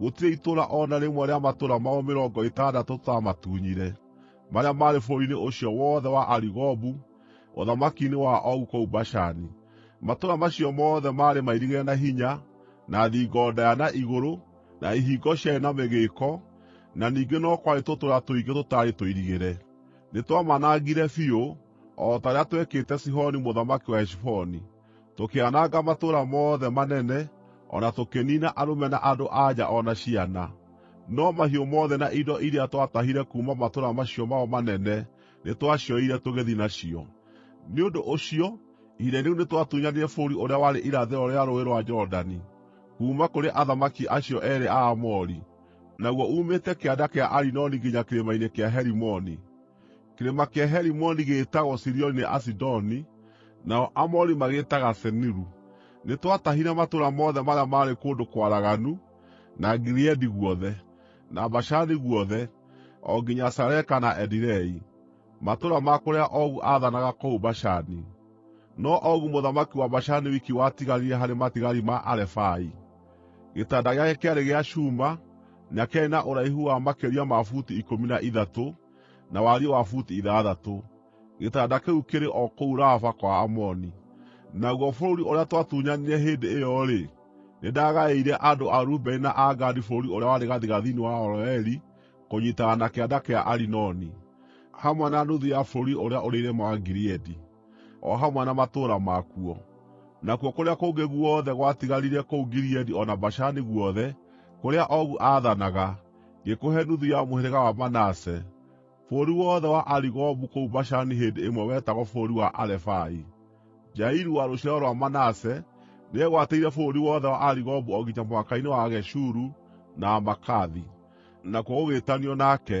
Gũtirĩ itũũra o na rĩmwe rĩa matũũra mao mĩrongo ĩtandatũ tũtaamatunyire, marĩa maarĩ bũrũri-inĩ ũcio wothe wa Arigobu, ũthamaki-inĩ wa Ogu kũu Bashani. Matũũra macio mothe maarĩ mairigĩre na hinya, na thingo ndaaya na igũrũ, na ihingo ciarĩ na mĩgĩĩko, na ningĩ no kwarĩ tũtũũra tũingĩ tũtaarĩ tũirigĩre. Nĩtwamanangire biũ, o ta ũrĩa twekĩte Sihoni mũthamaki wa Heshiboni. Tũkĩananga matũũra mothe manene, o na tũkĩniina arũme na andũ-a-nja o na ciana. No mahiũ mothe na indo iria twatahire kuuma matũũra macio mao manene nĩtwacioire tũgĩthiĩ nacio. Nĩ ũndũ ũcio ihinda-inĩ rĩu nĩtwatunyanire bũrũri ũrĩa warĩ irathĩro rĩa Rũũĩ rwa Jorodani, kuuma kũrĩ athamaki acio eerĩ a Aamori, naguo uumĩte kĩanda kĩa Arinoni nginya kĩrĩma-inĩ kĩa Herimoni. Kĩrĩma kĩa Herimoni gĩgĩĩtagwo Sirioni nĩ Asidoni, nao Aamori magĩĩtaga Seniru. Nĩtwatahire matũũra mothe marĩa maarĩ kũndũ kwaraganu, na Gileadi guothe, na Bashani guothe, o nginya Saleka na Edirei, matũũra ma kũrĩa Ogu aathanaga kũu Bashani. No Ogu mũthamaki wa Bashani wiki watigarire harĩ matigari ma Arefai. Gĩtanda gĩake kĩarĩ gĩa cuuma, na kĩarĩ na ũraihu wa makĩria ma buti ikũmi na ithatũ, na wariĩ wa buti ithathatũ. Gĩtanda kĩu kĩrĩ o kũu Raba kwa Aamoni. Naguo bũrũri ũrĩa twatunyanire hĩndĩ ĩyo-rĩ, nĩndagaĩire andũ a Rubeni na a Gadi bũrũri ũrĩa warĩ gathigathini wa Aroeri kũnyiitana na kĩanda kĩa Arinoni, hamwe na nuthu ya bũrũri ũrĩa ũrĩ irĩma wa Gileadi. o hamwe na matũũra makuo. Nakuo kũrĩa kũngĩ guothe gwatigarire kũu Gileadi o na Bashani guothe, kũrĩa Ogu aathanaga, ngĩkũhe nuthu ya mũhĩrĩga wa Manase. (Bũrũri wothe wa Arigobu kũu Bashani hĩndĩ ĩmwe wetagwo bũrũri wa Arefai.) Jairu wa rũciaro rwa Manase nĩegwatĩire bũrũri wothe wa Arigobu o nginya mũhaka-inĩ wa Ageshuru na Amaakathi, nakuo gũgĩĩtanio nake.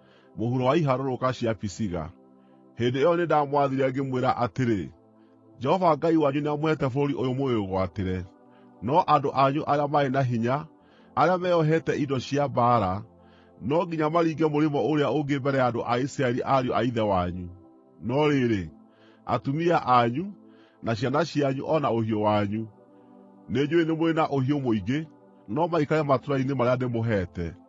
mũhuro wa iharũrũka cia Pisiga. Hĩndĩ ĩyo nĩndamwathire ngĩmwĩra atĩrĩ, “Jehova Ngai wanyu nĩamũheete bũrũri ũyũ mũwĩgwatĩre. No andũ anyu arĩa marĩ na hinya, arĩa meeohete indo cia mbaara, no nginya maringe mũrĩmo ũrĩa ũngĩ mbere ya andũ a Isiraeli ariũ a ithe wanyu. No rĩrĩ, atumia anyu, na ciana cianyu o na ũhiũ wanyu, nĩnjũũĩ nĩ mũrĩ na ũhiũ mũingĩ, no maikare matũũra-inĩ marĩa ndĩmũheete.”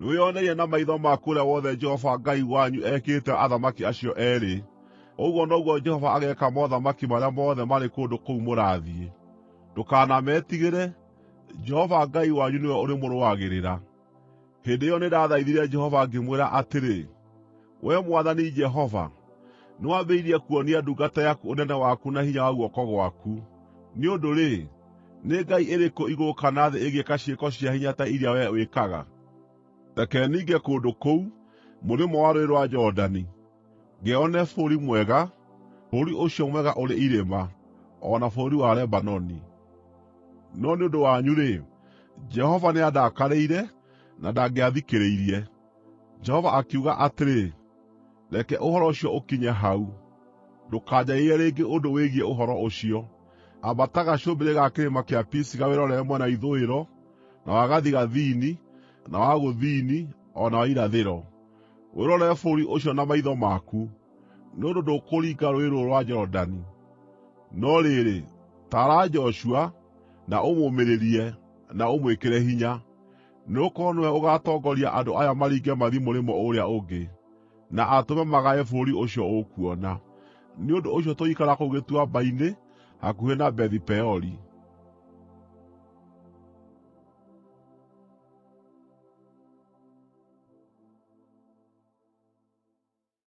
Nĩwĩoneire na maitho maku ũrĩa wothe Jehova Ngai wanyu ekĩte athamaki acio eerĩ. Ũguo noguo Jehova ageeka mothamaki marĩa mothe marĩ kũndũ kũu mũrathiĩ. Ndũkanametigĩre; Jehova Ngai wanyu nĩwe ũrĩmũrũagĩrĩra.” Hĩndĩ ĩyo nĩndathaithire Jehova ngĩmwĩra atĩrĩ, Wee Mwathani Jehova, nĩwambĩrĩirie kuonia ndungata yaku ũnene waku na hinya wa guoko gwaku. Nĩ ũndũ-rĩ, nĩ ngai ĩrĩkũ igũrũ kana thĩ ĩngĩka ciĩko cia hinya ta iria wee wĩkaga? Reke ninge kũndũ kũu, mũrĩmo wa Rũũĩ rwa Jorodani, ngeyonere bũrũri mwega, bũrũri ũcio mwega ũrĩ irĩma, o na bũrũri wa Lebanoni. No nĩ ũndũ wanyu-rĩ, Jehova nĩandakarĩire, na ndangĩathikĩrĩirie. Jehova akiuga atĩrĩ, “Reke ũhoro ũcio ũkinye hau. Ndũkanjarĩrie rĩngĩ ũndũ wĩgiĩ ũhoro ũcio. Ambata gacũmbĩrĩ ga kĩrĩma kĩa Pisiga wĩrorere mwena wa ithũĩro, na wa gathigathini, na wa gũthini, o na wa irathĩro. Wĩrorere bũrũri ũcio na maitho maku, nĩ ũndũ ndũkũringa Rũũĩ rũrũ rwa Jorodani. No rĩrĩ, taara Joshua, na ũmũũmĩrĩrie, na ũmwĩkĩre hinya.” Nĩgũkorwo nĩwe ũgaatongoria andũ aya maringe mathiĩ mũrĩmo ũũrĩa ũngĩ, na atũme magae bũrũri ũcio ũkuona.” Nĩ ũndũ ũcio tũgĩikara kũu gĩtuamba-inĩ hakuhĩ na Bethi-Peori.